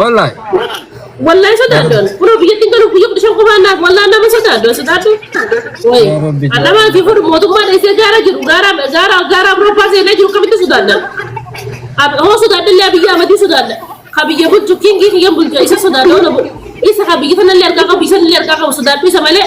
Wallahi. Wallahi sodaaddoon. Kunoo biyyatti hin galu guyya kudha shan qofaan naaf wallahi nama sodaaddoon sodaaddu. Wayi. Yaa Rabbi jaalladhu. Annamaa fi kun mootummaa dheessee gaara jiru gaara gaara gaara Awurooppaa seenee jiru kamitti sodaadda. Ab- Hoo sodaadda illee biyya amadii sodaadda. Ka biyya bulchu kiingii kiyyan bulchu isa sodaadda ona bu. Isa ka biyya sanallee argaa qabu isa illee argaa qabu sodaaddu isa malee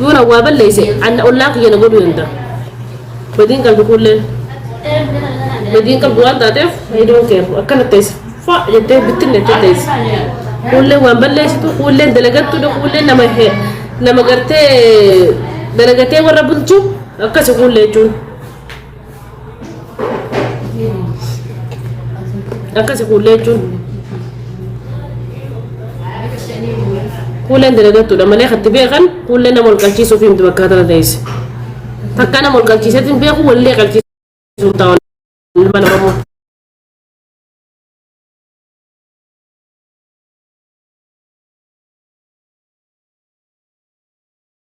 Yoona waa balleeyse anna ollaa kiyya na godhuu danda'a. Badiin qalbi kuullee badiin qabdu waan taateef I don't care akkana teessa fa jettee bittinne jettee teessi. Kuullee waan balleessitu kuullee dalagattudha kuullee nama he nama gartee dalagatee warra bulchu akkasi kuullee jechuun. akkasi kuullee jechuun kuulleen dalagattuudha malee katti beekan kuullee nama ol qalchiisuuf himti bakka tana teesse takka nama ol qalchiiseetiin beeku wallee qalchiisuuf taa'u ilma namaa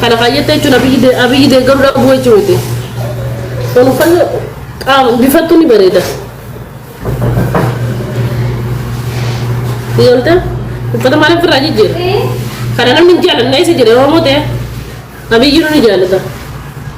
Kana kaayyatti jechuun abiyyi abiyyi deeggaruu dhabuu jechuu miti. Kan uffanna qaama bifattu ni bareeda. Ijoollee uffata maal ofirraa jijjiira? Kana namni hin jaalanne isa jedhe Oromoo ta'e abiyyi nu ni jaalata.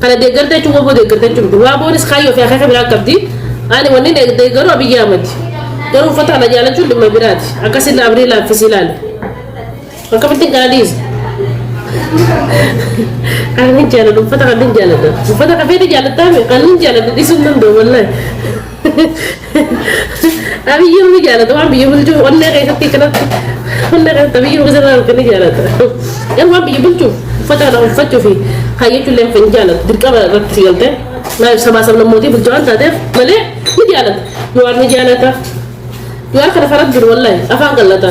Kana deeggarta jechuun waboo deeggarta jechuun miti. Waaboonis kaayyoo fi akeeka biraa qabdi. Ani wanni deeggaru Abiyyi Ahmadi. Garuu uffata kana jaalachuun dhimma biraati. Akka silla abrii laaffisi ilaali. Akkamittiin kana dhiisa? Kan hin jaaladhu uffata kan hin jaaladha. Uffata kafee ni jaalattaa mi? Kan hin jaaladhu dhiisuu hin danda'u wallahi. Abiyyi ni jaalata waan biyya bulchu onnee keessatti akkanatti onnee keessatti abiyyi uffisa irraa arganii jaalata. Garuu waan biyya bulchu uffata kana uffachuu fi kaayyachuu illee hin jaalatu dirqama irratti si galtee maaliif sabaa sablammootii bulchu waan taateef malee ni jaalata. Jawaar ni jaalata. Jawaar kana faradduun wallahi afaan qallata.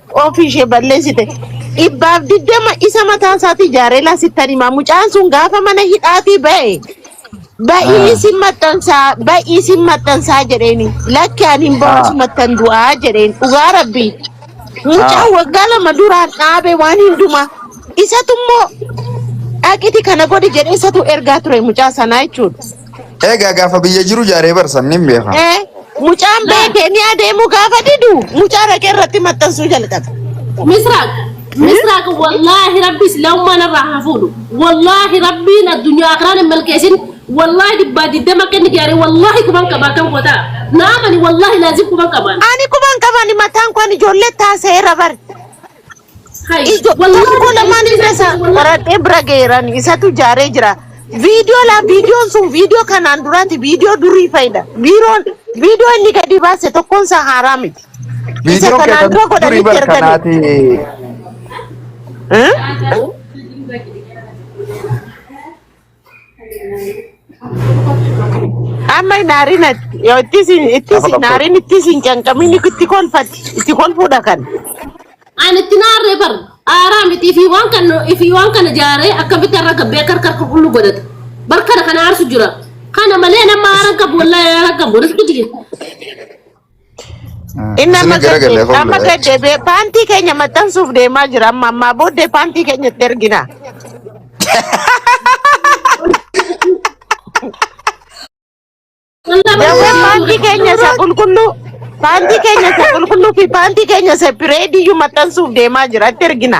ofii ishee balleessite. Dhibbaaf digdama isa mataa isaatii ijaaree laasittan himaa. Mucaan sun gaafa mana hidhaatii ba'e ba'ii Ah, isin maxxansaa ba'ii isin maxxansaa jedheeni. Lakki ani hin ba'u ah, asumattan du'aa jedheen. Dhugaa rabbii. ah, Mucaan waggaa lama duraan dhaabe waan hundumaa. Isatu immoo dhaqiti kana godhi jedhee isatu ergaa ture mucaa sanaa jechuudha. Egaa gaafa biyya jiru jaaree barsan nin beeka. Eh, mucaan beekee ni adeemu gaafa didu mucaa raqee irratti maxxansuu jalqabe. Misraaq Misraaq wallaahi rabbi islaamummaan irraa haa fuudhu wallaahi rabbiin addunyaa akiraan hin milkeessin wallaahi dhibbaa diddama akka inni jaare wallaahi kuban qaba akkam goota naamani wallaahi laazim kuban qabaan Ani kuban qabani mataan kun ijoollee taasee rabar. Ijo tokko koo lamaan hin keessa qoradhee bira geeran isatu ijaaree jira. Viidiyoo laa viidiyoon sun viidiyoo kanaan duraati viidiyoo durii fayida. Biiroon viidiyoo inni gadi baase tokkoon isaa haaraa miti. Isa Viidiyoon kanaan keessan dura durii godhanitti bar erganii. kanaati. Eh? Amma hin aarin ati. Yoo itti isin itti Gaafa isin qabsoo aarin itti isin canqamin itti kolfati. Itti kolfuudha kan. Ani itti naarree bar aaraa miti fi waan kan fi waan kana jaaree akkamitti irra gabbee akka harka qulqulluu godhata. Bar kana kana aarsu jira. Kana malee nama aaran qabu wallahi aaran qabu. Riskiti. Inni amma Isin gara gad galee deebi. Amma fuuldura. gad deebi'ee paantii keenya maxxansuuf deemaa jira. Amma ammaa booddee paantii keenya itti ergina. Jawwee paantii keenya isa qulqulluu paantii keenya isa qulqulluu fi paantii keenya isa pireediyyuu maxxansuuf deemaa jira. Itti ergina.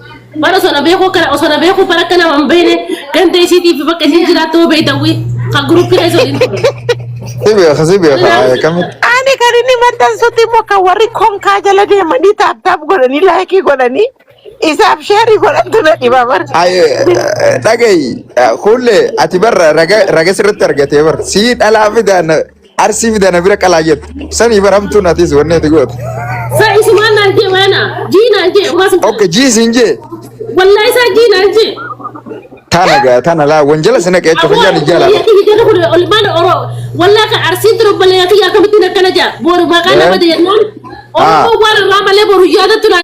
Bara osoo na beekuu akkana osoo na beekuu bara akkana waan beekne ganda isiitii fi bakka isiin jiraattu hoo beekta wii kan guruppina isa waliin ture. Si beeka si beeka haaya kamitti. Ani kan inni maxxansutti immoo kan warri konkaa jala deemanii taaptaap godhanii laayikii godhanii isaaf sheerii godhantu na dhiba bar. Haaya dhagayi kuullee ati barra raga raga sirratti argatee bar sii dhalaa fidaa na Arsii fida na bira qalaa jettu. Sanii baramtuun atis wanni ati goote. Sa isumaan naan jee waana. Jii naan jee. Maas Ok jii siin jee. wallaa isaa jii naan jee. Tana gaa tana laa wanjala sina qeecha fayyaan ijjala. Olmaana oroo. Wallaa kan arsii ture obboleeyyaa kiyya akkamittiin akkana jaa. Boru maqaa nama deemnaan. Oromoo waan irraa malee boru yaadatu naan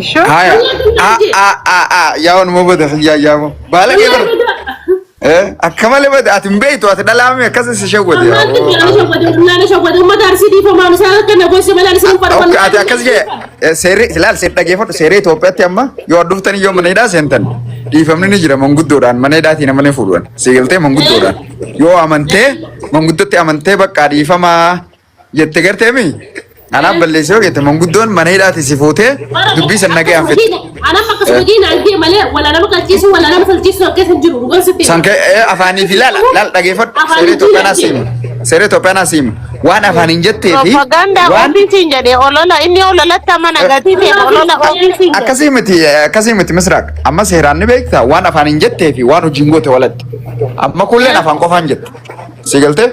Isho. Haya. A a a a yaa wanuma bada yaa yaa mo. Baala kee bar. Eh akka malee bada ati hin beektu ati dhalaame akkas si shawwate. Ammaan kun yaala shawwadee bullaala shawwadee uummata arsii dhiifamaa isaa akka na goose malee anis hin farfanne. Akka ati akkas jee seerri ilaal seerri dhageeffadhu seerri Itoophiyaatti amma yoo adduftanii yoo mana hidhaa seentan dhiifamni ni jira manguddoodhaan mana hidhaatiin amalee fuudhan siigaltee manguddoodhaan yoo amantee manguddootti amantee bakka dhiifamaa jette gartee mi anaaf balleessee yoo jette manguddoon mana hidhaati si fuutee dubbii san nagayaan fixxe. Anam akkasuma diina argee malee wala nama qalchiisu wala nama falchiisu akka hin jiru dhugaa sitti. San kee ee, afaanii fi laal laal dhageeffadhu Afaan seeree Itoophiyaa naa siima seeree Itoophiyaa naa siima waan afaan hin jettee fi Propaganda waan ofiisiin jedhe olola inni ololatti amana gatii ta'e olola ofiisiin jedhe. akkasii miti akkasii miti misraaq amma seeraan ni beekta waan afaan hin jettee fi waan hojiin goote walatti amma kulleen afaan qofaan jette si galtee.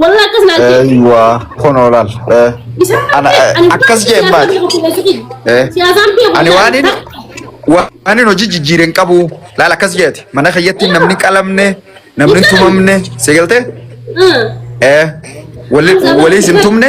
Wallah akkas naan jedhe. Eeywa kunoo laal. Eh, Isaan Ana, eh, ani akkas jeen siyaasaan baate. beeku keessa jiru. Eh. Siyaasaan beeku Ani waan keessa inni jiru. waan inni hojii jijjiire hin qabu. Laal akkas jeeti. Mana keessatti namni qalamne, namni tumamne, seegaltee? Ah. Eh, wali wali isin tumne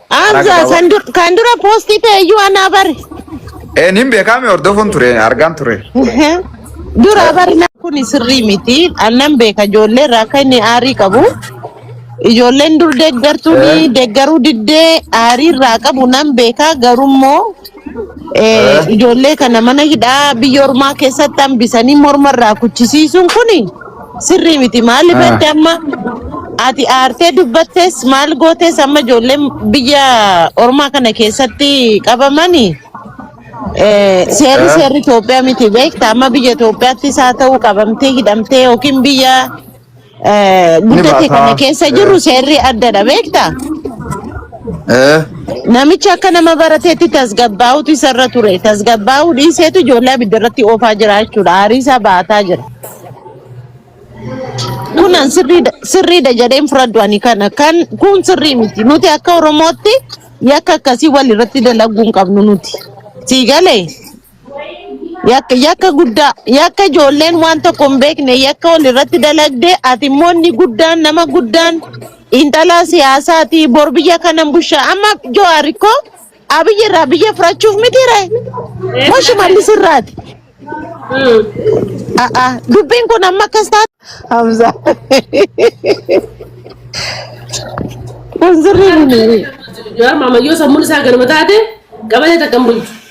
Karaa Amza gabaabaa. san dur kan dura posti ta'e iyyuu anaa bari. Een hin beekaame hordofuun ture argaan ture. Dura Eh, bari na kun sirrii miti. Annan beeka ijoollee irraa akka inni aarii qabu. Ijoolleen dur deeggartuun eh. deeggaruu diddee aarii irraa qabu nan beeka garuu immoo Eh, ijoollee kana mana hidhaa biyya ormaa keessatti hambisanii morma irraa kuchisiisuun kun sirrii miti. Maaliif Ah. jette amma ati aartee dubbattes maal gootes amma ijoolleen biyya ormaa kana keessatti qabamani eh, seerri Eh. seerri Itoophiyaa miti beekta. Amma biyya Itoophiyaattis haa ta'u qabamtee hidhamtee yookiin biyya Eh, Ni Guddatii baasaa. kana keessa jirru seerri addadha beektaa? Eh. Namichi akka nama barateetti tasgabbaa'utu isarra ture. Tasgabbaa'uu dhiiseetu ijoollee abidda irratti oofaa jira jechuudha. Aarii isaa baataa jira. Kunan sirriidha sirriidha jedheen fudhadhu ani kana. Kan kun sirrii miti. Nuti akka Oromootti yakka akkasii wal irratti dalaguu hin qabnu nuti. Sii galee? Yakka, yakka guddaa, yakka ijoolleen waan tokko hin beekne, yakka wal irratti dalagde, ati immoo inni guddaan, nama guddaan, xiinxalaa siyaasaati, bor biyya kanan busha. Amma Jawaar koo Abiyyi irraa biyya fudhachuuf miti ree? Moo Shimallis irraati? A'a, dubbiin kun amma akkas taate. Hamza. Kun sirrii miti. Jawaar maamayyoo sammuun isaa ganama taate qabatee takka hin bulchu.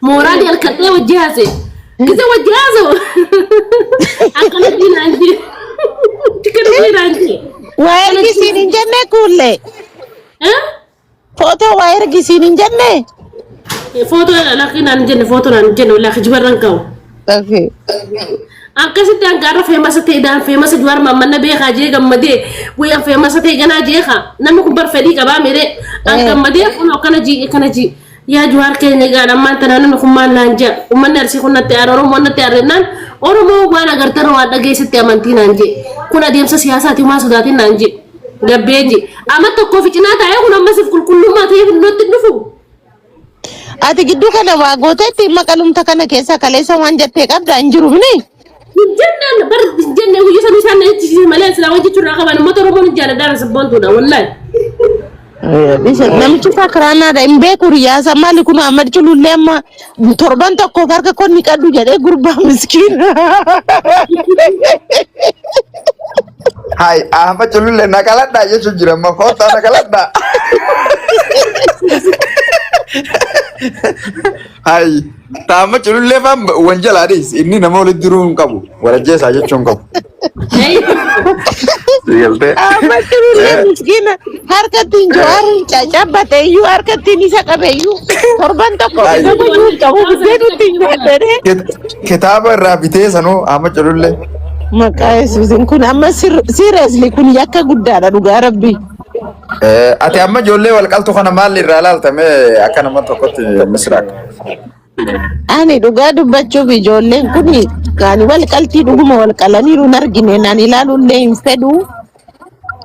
Mooraa Ee, jalkadhee wajji haase. Isa wajji haasa'u. Akkana diinaan jee. Chikkana diinaan jee. Waa Akkana ergisiin hin diinaan jenne kuullee. jee. Footoo waa ergisiin hin jenne. Footoo lakkii naan jenne footoo naan jenne walaa kijibarran ka'u. Okay. Akkasitti hangaarra feemasa ta'e daan feemasa juwaar maammanna beekaa jee gammadee guyyaan feemasa ta'e ganaa jeekaa namni kun bar fedhii qabaa miree an Ee. gammadee kun akkana jii akkana jii. Yaa Juhaar keenya egaan ammaan tana namni kun maal naan ja'a? Ummanni Arsii kun natti aare, Oromoon natti aare jennaan Oromoo waan agartarra waan dhageessetti amantii naan je'e. Kun adeemsa siyaasaati humaa sodaatin naan je'e. Gabbee je'e. Ama tokkoo fi cinaa taa'ee kun amma siif qulqullummaa ta'ee fidnootti hin dhufu. Ati gidduu kana waa gooteetti maqalumta kana keessa kaleessa waan jettee qabda hin jiru mini. Hojjannaan bar jennee guyyaa sana isaan na jechisiise malee silaa wajji turraa qaban uummata Oromoo ni jaalladhaan sabboontuudha wallaahi. Listen, namichi isaa kiraanaadha hin beeku riyaasa maali kun Ahmad Culullee amma torban tokkoof harka koo ni qaddu jedhee gurbaa miskiina. Hai, Ahmad Culullee na qaladhaa jechuun jira amma koottaa na qaladhaa. Hai. Taama culullee faan wan jalaa dhiis. Inni nama walitti diruu hin qabu. Walajjeesaa jechuu hin qabu. Galtee. Amma jirullee miskiina harkattiin jawaariin caccabate iyyuu harkattiin isa qabe iyyuu torban tokko Ay. isa gochuu hin qabu buddeen nutti hin nyaadhane. Kitaaba irraa bitee sanuu amma culullee. Maqaa Yesuusin kun amma siiriyasli kun yakka guddaadha dhugaa rabbii. Ati amma ijoollee walqaltu kana maal irraa ilaaltame akka nama tokkotti misiraaq. Ani dhugaa dubbachuuf ijoolleen kun kan wal qaltii dhuguma wal qalaniiru hin argine naan ilaaluullee hin fedhu.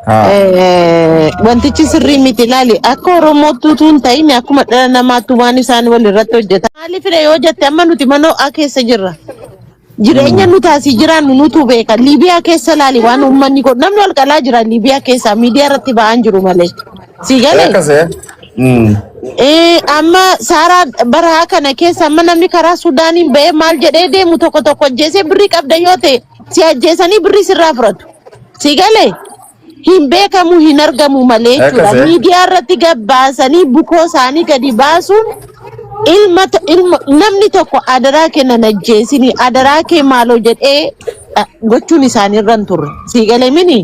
Haa. Eh, Wantichi sirrii miti ilaali. Akka Oromootti utuu hin ta'in akkuma dhala namaatti waan isaan wal irratti hojjetan. Maaliif yoo jette amma nuti mana ho'aa keessa jirra. Jireenya nuti asii jiraannu nutu beeka. Liibiyaa keessa laali waan uummanni kun namni wal qalaa jira Liibiyaa keessa miidiyaa irratti ba'aan jiru malee. Sii Ee galee? akkas ee. Mm. Ee, amma saaraa baraa kana keessa amma namni karaa Sudaaniin ba'ee maal jedhee deemu tokko tokko ajjeesee birrii qabda yoo ta'e si ajjeesanii birrii sirraa fudhatu. Sii galee? hin beekamu hin argamu malee jechuudha. Akkasee. Miidiyaa irratti gabbaasanii bukoo isaanii gadi baasuun ilma to- ilma namni tokko adaraa kennan ajjeesini adaraa kee maaloo jedhee eh, gochuun isaanii irra hin turre. Sii galee mini?